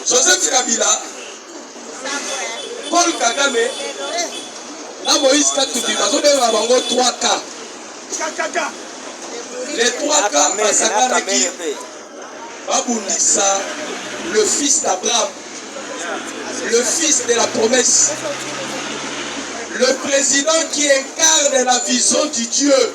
Joseph Kabila, Paul Kagame na Moïse Katumbi bazobenga bango 3K. Les 3K basakanaki babundisa le fils d'Abraham, le fils de la promesse, le président qui incarne la vision du Dieu.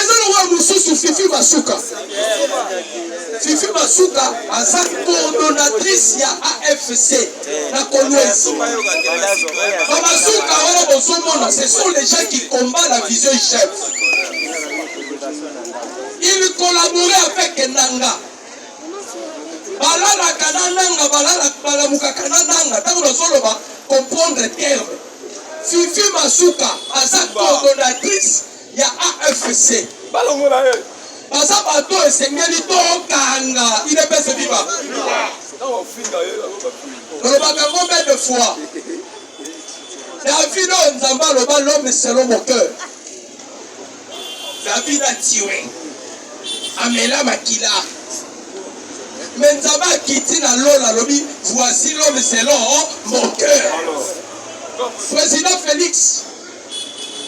eza lokola mosusu fifi masuka fifi masuka aza coordonatrice ya afc na kolwezi bamasuka wana bozomona ce sont les gens qui combat la vision chef il collabore avec nanga balalaka na nanga balamukaka na nanga ntango nazoloba comprendre terme Fifi Masuka aza coordonnatrice ya AFC. Balongola ye. Baza bato esengeli to kanga idepese viva. Olobaka ngo mbe de fois. Davido Nzamba loba l'homme selon mon cœur. David a tué. Amela makila. Mais Nzambe akiti na lola alobi voici l'homme selon mon cœur. Président Félix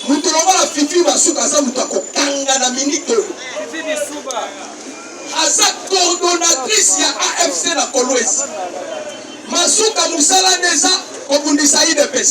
moto lokola fifi basuka aza moto akokanga na minite oyo aza coordonnatrice ya afc na kolwezi masuka mosala nde eza kobundisa idps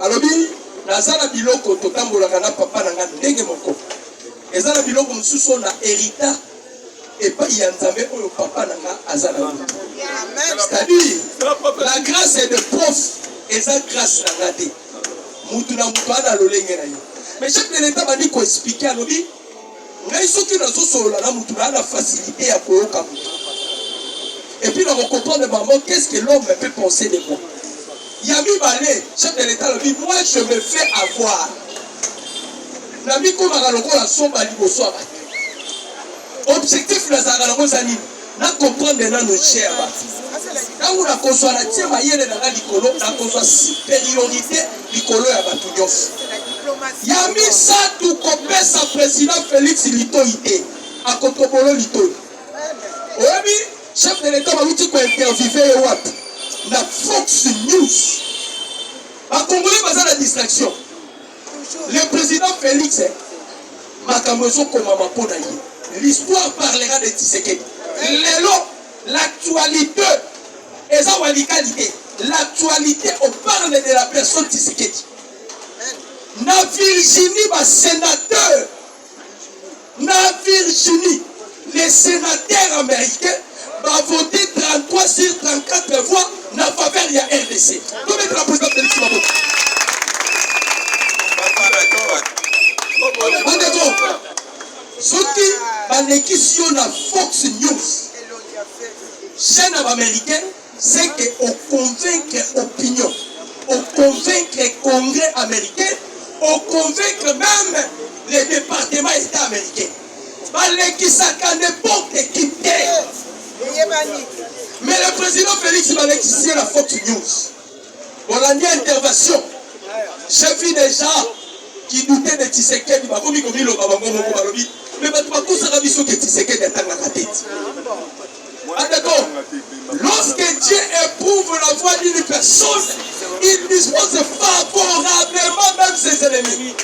Alobi naza na biloko totambolaka na papa na nga ndenge moko. Eza na biloko mosusu na herita epai ya Nzambe oyo papa na nga aza na c'est-à-dire la grâce est de prof eza grâce na nga te mutu na mutu ana lolenge na ye mais chaque de l'etat bandi koexplike alobi ngai soki nazosolola na motu naa na facilité ya koyoka motu epuis na kocomprendre bango qu'est ce que l'homme peut penser de moi ya mibale chef de l'état alobi moi je me fais avoir na mikomaka lokola somba liboso ya bato objectif nazalaka nango eza nini Na comprendre nanu cher ba ntango nakozwa na tie mayele na nga likolo nakozwa superiorite likolo ya bato nyonso ya misato kopesa president felix litoi te akotobolo litoi oyebi chef de l'etat bauti kointervive ye wapi na fox news bakongole baza na distraction Le president Felix makambo ezokomama mpo na ye. L'histoire parlera de Tshisekedi. Lelo l'actualité eza walikali te. L'actualité on parle de la personne Tshisekedi. Na Virginie ba sénateur Na Virginie, les senateurs americains ba voter 33 sur 34 voix na faveur ya RDC. Comme la présidente Felix Tshisekedi. Bandeko, soki balekisi yo na Fox News, chaîne ya ba américaine c'est que o convaincre opinion, o convaincre Congrès américain, o convaincre même le département État américain. Balekisaka n'importe qui te. Mais le président Félix balekisi la Fox News. Olandi intervention. J'ai vu des gens qui doutaient de Tshisekedi, bakomi komiloba bango moko balobi, mais bato bakosaka biso ke Tshisekedi atangaka te. Ah d'accord. Lorsque Dieu éprouve la voix d'une personne, il dispose favorablement même ses ennemis.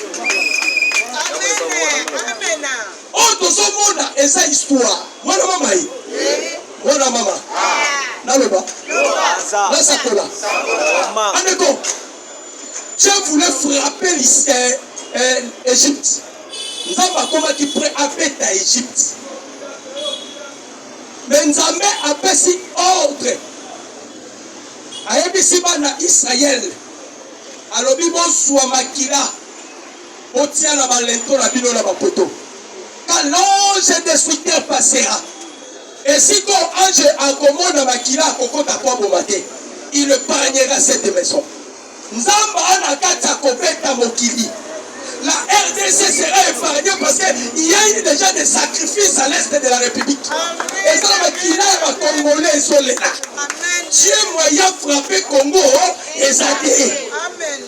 Amen. Amen. Oyo tozo mona eza histoire mwana mama ye mwana mama naloba nasakola andeko Dieu voulait frapper l'Égypte. Euh, Nzambe akomaki près abeta Égypte. Mais Nzambe apesi ordre. Ayebisi bana Israël. Alobi bozwa makila. Botia na ba lento na bino na ba poto. Quand l'ange destructeur passera. Et si ko ange akomona makila akokota kwa boma te. Il épargnera cette maison. Nzamba ana kati akobeta mokili. La RDC sera épargnée parce qu'il y a eu déjà des sacrifices à l'est de la République. Et ça, le Kina et ma Congolais, ils sont là. Dieu moyen frappé Congo, et ça Amen.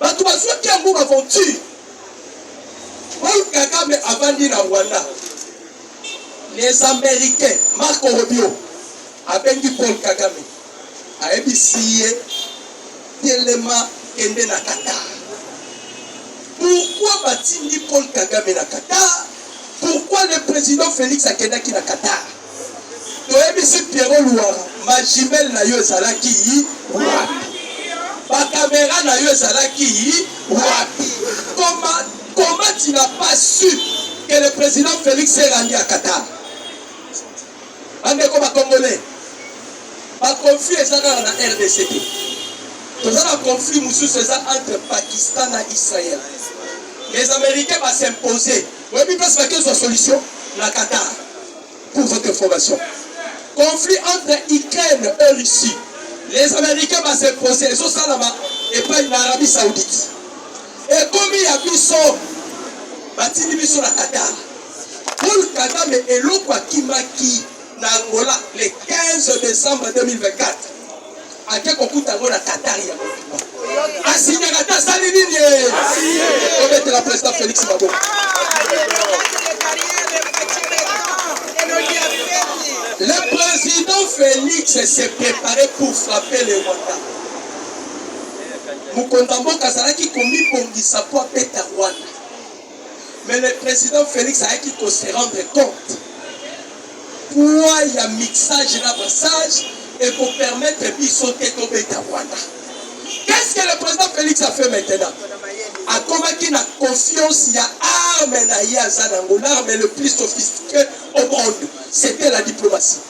Bato bazwaki yango b'aventure. Paul Kagame avandi na Rwanda, les americains, Marco Rubio abengi Paul Kagame, ayebisi ye telema, kende na Qatar. Pourquoi batindi Paul Kagame na Qatar? Pourquoi le president Felix akendaki na Qatar? Toyebisi Pierrot Luwara, ma jumelle na yo ezalaki wapi? Ba camera na yo ezalaki wapi? Comment, comment tu n'as pas su que le président Félix s'est rendu à Qatar? Bandeko ba Congolais, ba conflit eza kaka na RDC te. Toza na conflit mosusu eza entre Pakistan na Israël. Les Américains ba s'imposer Oyebi place bakezwa solution na Qatar pour votre information. Conflit entre Ukraine et Russie. Les Américains ba se poser ezo salama epai na Arabie Saoudite. Ekomi ya biso batindi biso na Qatar. Paul Kagame eloko akimaki na Angola le 15 décembre 2024 ake kokuta yango na Katari ya mobimba asinyaka te asali nini obetela president Felix maboko Le président Félix s'est préparé pour frapper le Rwanda. mokonzi ya mboka azalaki komibongisa mpo abeta rwanda mais le président Félix ayaki ko se rendre compte poids ya mixage na massage et ko permettre biso te tobeta Rwanda qu'est-ce que le président Félix a fait maintenant akomaki na confiance ya arme na ye aza nango l'arme le plus sophistiqué au monde c'était la diplomatie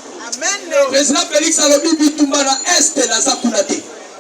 président Félix alobi bitumba na est naza kuna te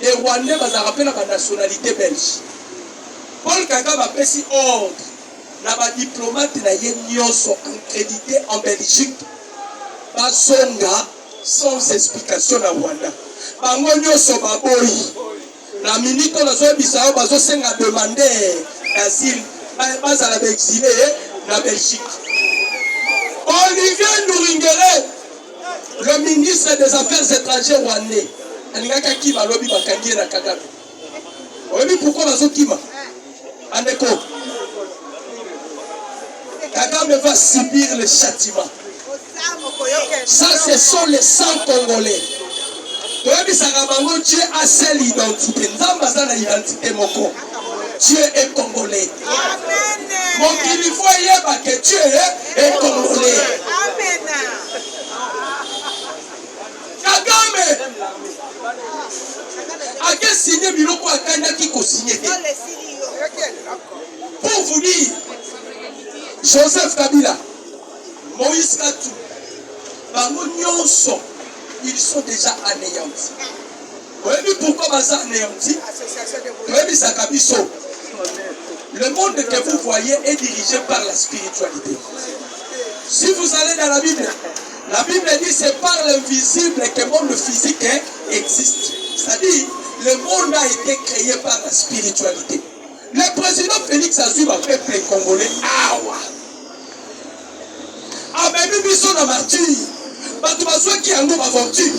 Les Rwandais bazalaka pe na ba nationalite belge. Paul Kagame apesi ordre na ba diplomate na ye nyonso accredite en Belgique bazonga sans explication na Rwanda. Bango nyonso baboyi. Na minute oyo nazoyebisa yo bazosenga demande d'asile bazala baexile na Belgique. Olivier Nduringere Le ministre des affaires étrangères rwandais alingaki akima lobi bakangi ye na Kagame. Oyebi pourquoi bazokima? Andeko Kagame va subir le châtiment. Ça ce sont les 100 congolais. toyebisaka bango Dieu a seule identité. Nzambe aza na identité moko. Dieu est congolais. Mokili faut eyeba que Dieu est congolais. Kagame ake signe biloko akandaki kosigne te. Pour vous dire, Joseph Kabila, Moïse Katou, bango nyonso ils sont déjà anéantis. oyebi pourquoi baza anéanti toyebisaka biso le monde que vous voyez est dirigé par la spiritualité si vous allez dans la bible la bible dit c'est par l'invisible que le monde physique existe c'est-à-dire le monde a été créé par la spiritualité le président félix azwi bapeuple congolais awa ah, amemi biso na martire bato bazwaki yango baventure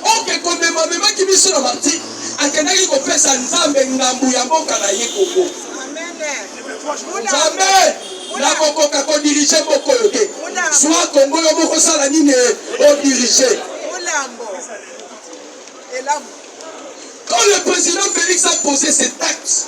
oke komema amemaki biso na martire akendaki kopesa nzambe ngambo ya mboka na ye koko nzambe nakokoka kodirige moko oyo te zwa kongo yo mokosala nini odirige quand le président félix a posé ses taxes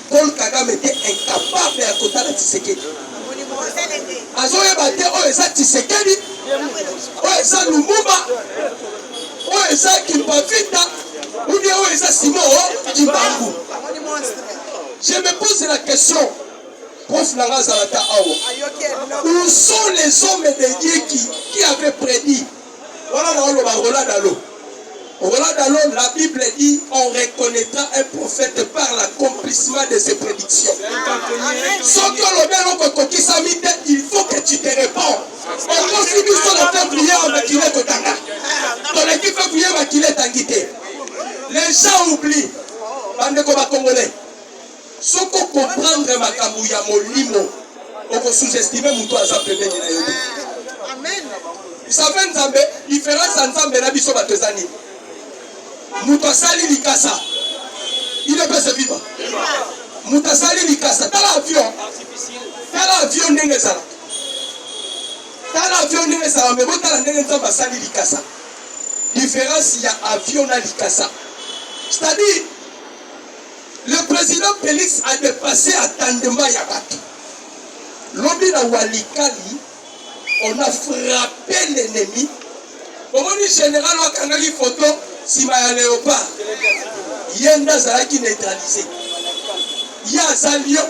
Paul Kagame te incapable ya kotala Tshisekedi. Azoyeba te oyo eza Tshisekedi, oyo eza Lumumba, oyo eza Kimpavita, ou bien oyo eza Simon oh, Kimbangu. Je me pose la question. Prof Nanga Zalata Awa. Où sont les hommes de Dieu qui, qui avaient prédit Wana na oloba Rola Dalo. Rola Dalo, la Bible dit on reconnaîtra un prophète par l'accomplissement de ses prédictions. Soki olobi eloko ekokisami te, il faut que tu te réponds. Okosi biso na peuple ya makila kotanga. Toleki peuple ya makila etangi te. Les gens oublient. Bandeko ba Congolais. Soki okomprendre makambo ya molimo, okosuzestime moto aza pembeni na yo te. Save Nzambe, diference ya Nzambe na biso bato eza nini? Moto asali likasa, il est pese viva. Moto asali likasa, tala avion, tala avion ndenge ezala, tala avion ndenge ezala, me botala ndenge Nzambe asali likasa. Diference ya avion na likasa, c'est-à-dire Le president Felix a depasse attendement ya batu. Lobi na Walikali, on a frappe l'ennemi. Omoni general wakangaki photo sima ya Leopard. Ye nde azalaki neutraliser. Ye aza lion.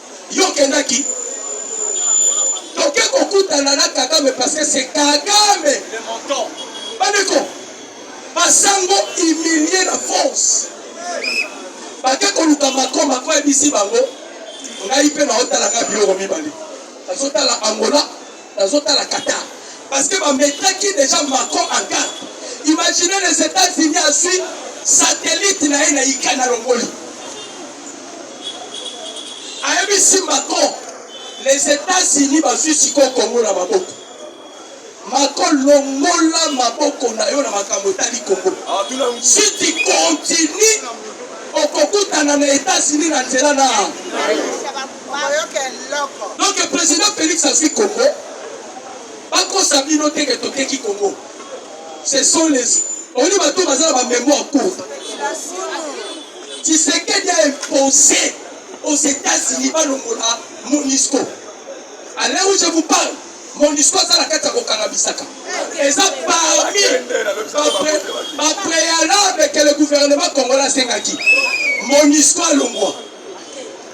Yo okendaki toke kokutana na Kagame parce que c'est Kagame le montant. Bandeko basango humilie na force bake koluka mako mako ebisi bango ngai mpe naotalaka biloko mibale azotala Angola Nazo tala Qatar parce que ba metaki dejà Macron en garde. Imaginez les Etats-Unis azui satellite na ye na Ukraine alongoli. Ayebisi Macron les Etats-Unis bazui sikoyo Congo na maboko. Macron longola maboko na yo na makambo etali Congo. Ah, si tu continues okokutana na Etats-Unis na nzela na donc président félix azwi congo bakosa bino te ke toteki congo ce sont les omoni bato baza na bamémoire courte tisekedi a impose aux états-unis balongola monisco à l'heure où je vous parle monisco aza na kati ya kokanga bisaka eza parmi bapréalable ke le gouvernement congolais asengaki monisco alongwa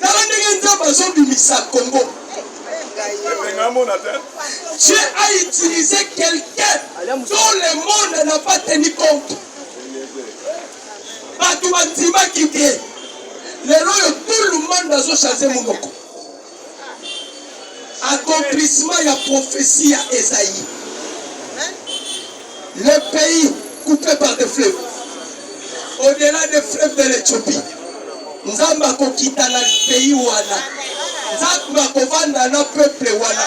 tala ndenge nzambe azobimisa congo Dieu a utilisé quelqu'un dont le monde n'a pas tenu compte. bato bandimaki te lelo oyo tout le monde azochange monoko Accomplissement ya prophetie ya Esaïe. Le pays coupé par des fleuves. Au-delà des fleuves de l'Ethiopie. Nzambe akokita na pays wana. Nzambe akovanda na peuple wana.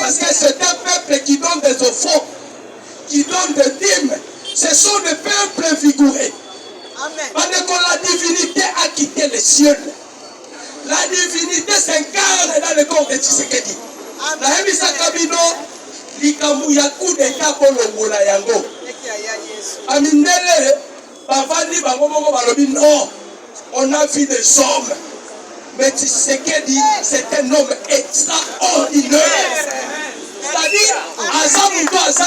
Parce que c'est un peuple qui donne des offrandes, qui donne des dîmes. Ce sont des peuples vigoureux. Amen. Parce que la divinité a quitté les cieux. La divinité s'incarne dans le corps de Tshisekedi. nayebisaka bino likambo ya coup d'etat kolongola yango bamindele bavandi bango moko balobi non on a vu des hommes mais Tshisekedi c'est un homme extraordinaire c'est-à-dire aza moto aza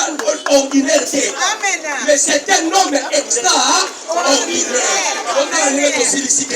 ordinaire te mais c'est un homme extraordinaire otanange tosilisi te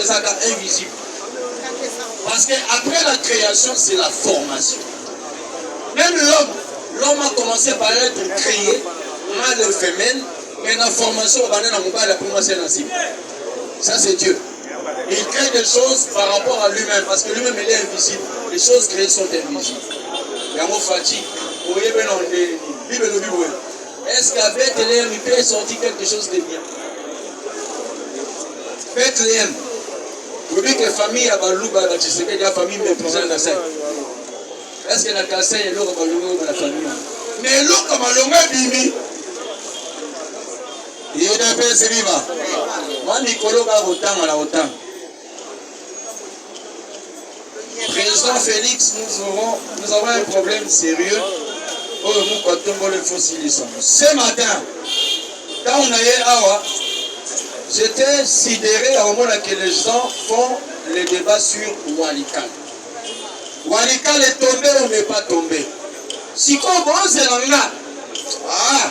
ezalaka invisible parce que après la création c'est la formation même l'homme l'homme a commencé par être créé mal et femelle mais la formation obanda na mobali apres mwasi na nsima ça c'est dieu il crée des choses par rapport à lui-même parce que lui-même il est invisible les choses créées sont invisibles yango fati oyebena nde bible elobi boye est ce qu'à beteleem il peut sortir quelque chose de bien Bethlehem lobi ke famille ya baluba ba Tshisekedi ya famille méprisant na sai est-ce que na Kasaï eloko balongo oyo na famille mais eloko malongo ebimi yedapesi biba mwa mikolo kaka kotanga na kotanga Président Félix, nous, aurons, nous avons un problème sérieux. oyo moko atomboli faut silisa ce matin ntango na ye awa j'étais sidéré ya komona que les gens font le débat sur walikale walikale tombe ou n'est pas tombe sikoyo bozela nga ah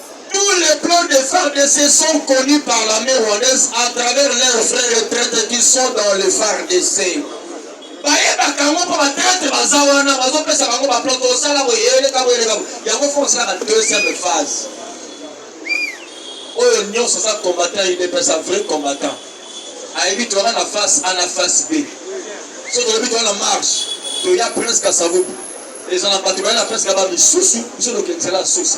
Tous les plans de FARDC sont connus par l'armée rwandaise à travers leurs frères retraites qui sont dans le FARDC. bayebaka yango mpo batraitre baza wana bazopesa bango baplan tosala boye eleka boye eleka yango fo osalaka deuxième phase oyo nyonso aza combattant udps a vrai combattant ayebi toyaka na face a na face b so toyebi toya na marche toya presque asavubu eza na bato baye na presque ba misusu biso tokendisela susi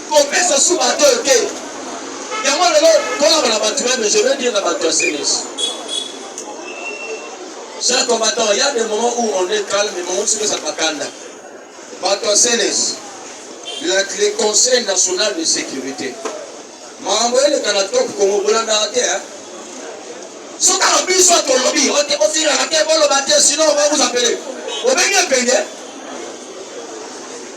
kopesa su bato oyo te yango lelo tolaba na bato meme je veux dire na bato ya senes cher combattant il y a des moments où on est calme mais moments soki ezalaka kanda bato ya senes le conseil national de sécurité makambo eleka na top kongo bolandaka te soki na biso tolobi ote osilaka te boloba te sino obakuza pele obengi epenge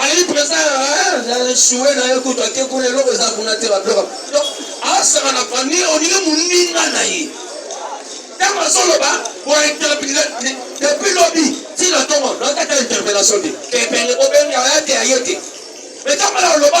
ayebi mpenza sue na ye kutu ake kuna eloko eza kuna te babiloko donc asaka na fani olingi moninga na ye ntango azoloba bointerpele depuis lobi ntina ntongo nakata interpellation te kepele obenga ya te aye te mais ntango na oloba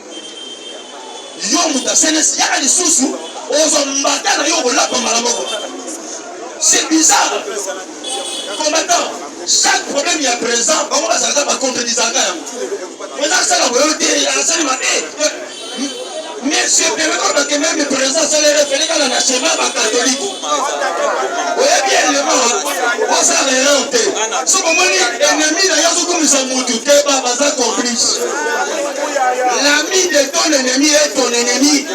yo moto ya senesi yaka lisusu ozwa mbata na yo okolapa mbala moko c'est bizarre combattant chaque problème ya présent bango bazalaka bacontredisaka yango oza asala boyo te asali mabe mais sepemekolo bakememe présent asala refele kaka na chemin bakatolike oyebi elema osala erreur te soki omoni ennemi na yo azokumisa motu te ba baza complice l'ami de ton ennemi est ton ennemi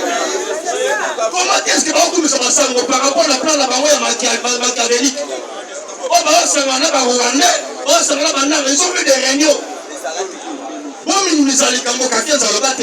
comment est-ce que bakokumisa basango par rapport na plan na bango ya machiavelique oyo baosangana na barwandais baosangana bananga ils ont fait des réunions bominimisa likambo kakenza aloba te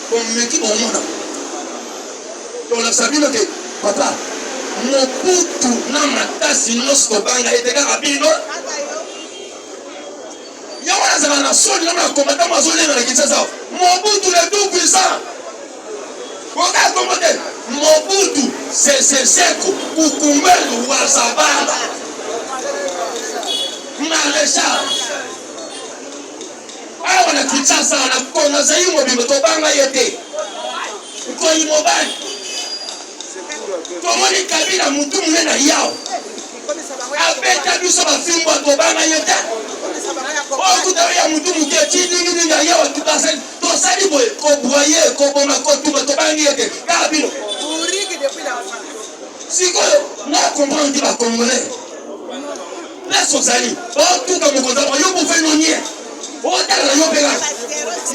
Bomeki bomona. Tolakisa bino te papa mobutu na makasi nyonso tobanga ete kaka bino yango nazala na soni na makomata mazolenga na kinshasa mobutu le tout puissant okaa kongo te mobutu seseseko kukumbelu wazabala maréchal awa na kinshasa na kongo zaire mobimba tobanga ye te nkoyi mobali tomoni kabila motu mune na yao abeta biso bafimbo tobanga ye te okuta ya motu moke ti ninginingi ya yao tukasali tosali boye kobwaye koboma kotuma tobangi ye te kaka bino sikoyo na comprendre ti bacongolais place ozali otuka mokonzi yango yo bofe nonie otalaka yo mpela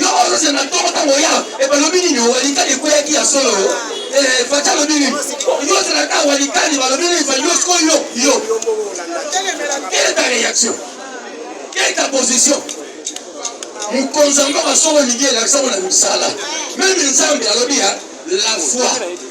yo ozozela na ntongo ntango oya ebalobi nini owalikani ekweyaki ya solo eh, faci alobi nini yo ozalaka walikani balobi nini fa yo siko yo yo quelle est ta réaction quelle est ta position mokonzi yango basolo olingi elakisa ngo na misala meme nzambe alobi ya la foi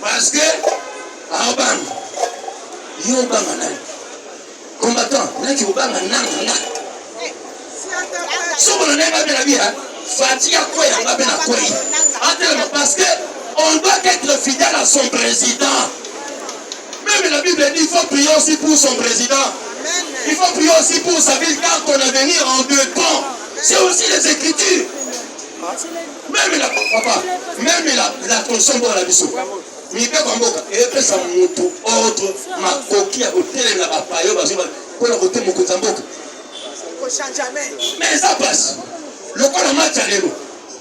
Parce que aobanga yo obanga nani combattant naki obanga nanga nga sokola naye babela bia fati ya kwei yanga mpe na kwei atelema parce que on doit être fidèle à son président même la bible dit il faut prier aussi pour son président il faut prier aussi pour sa ville car ton avenir en dépend c'est aussi les écritures Meme la papa, meme la la consombo la biso. Mibeko ya mboka epesa moto ordre makoki ya kotelemela bapayo bazoba mpo na kote mokonzi ya mboka mais eza mpasi lokola match ya lelo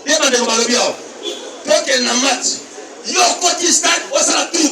ye bandeko balobi awa tokende na match yo okoti stade osala tour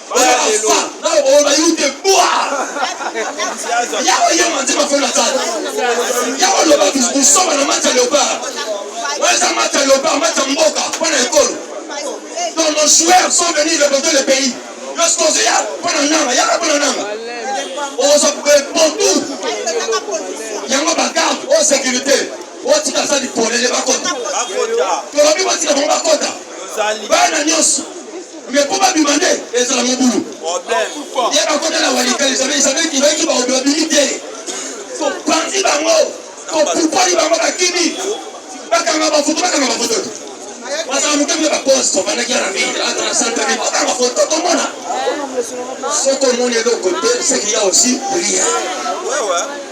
oyo bafa nayo baoyo bayute bwa yawe ye manzi mafona sala yawe loba busoba na mati ya leopard oyo eza mati ya leopard mati ya mboka mpo na ekolo donc nos joueurs sont venus représenter le pays lorsque ozoya mpo na nanga yaka mpo na nanga oza pontu yango bagarde oyo sécurité otika asali polele bakota tolobi batika bango bakota bana nyonso Mais po babima nde ezala mobulu. Ye bakota na walikali jamais isabel kibaiki baobi babimi te. Topanzi bango, topupoli bango bakimi. Bakanga bafoto, bakanga bafoto. Bazala moke mpe baposte bafandaki ya na ville, ata na centre ville, bakanga foto tomona. Soki omoni eloko te, c'est qu'il y a aussi rien.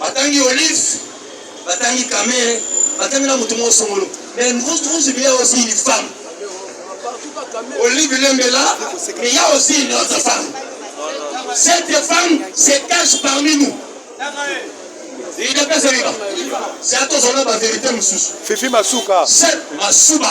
batangi olive batangi kamere batangi na moto moko songolo mais nkuzi biya aussi une femme olive lembela mais ya aussi une autre femme cette femme se cache parmi nous idps ebiba c'est atozona ba vérité mosusu fifi masuka masuba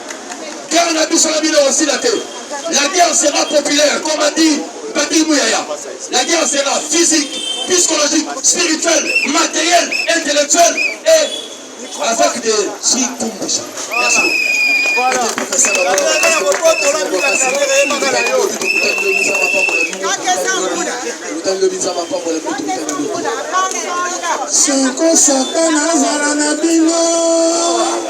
Guerre na biso na bino osila te. La guerre sera populaire, comme a dit Patrick Mouyaya. La guerre sera physique, psychologique, spirituelle, matérielle, intellectuelle et avec des Chikumbisha. Merci beaucoup. Soko satana azala na bino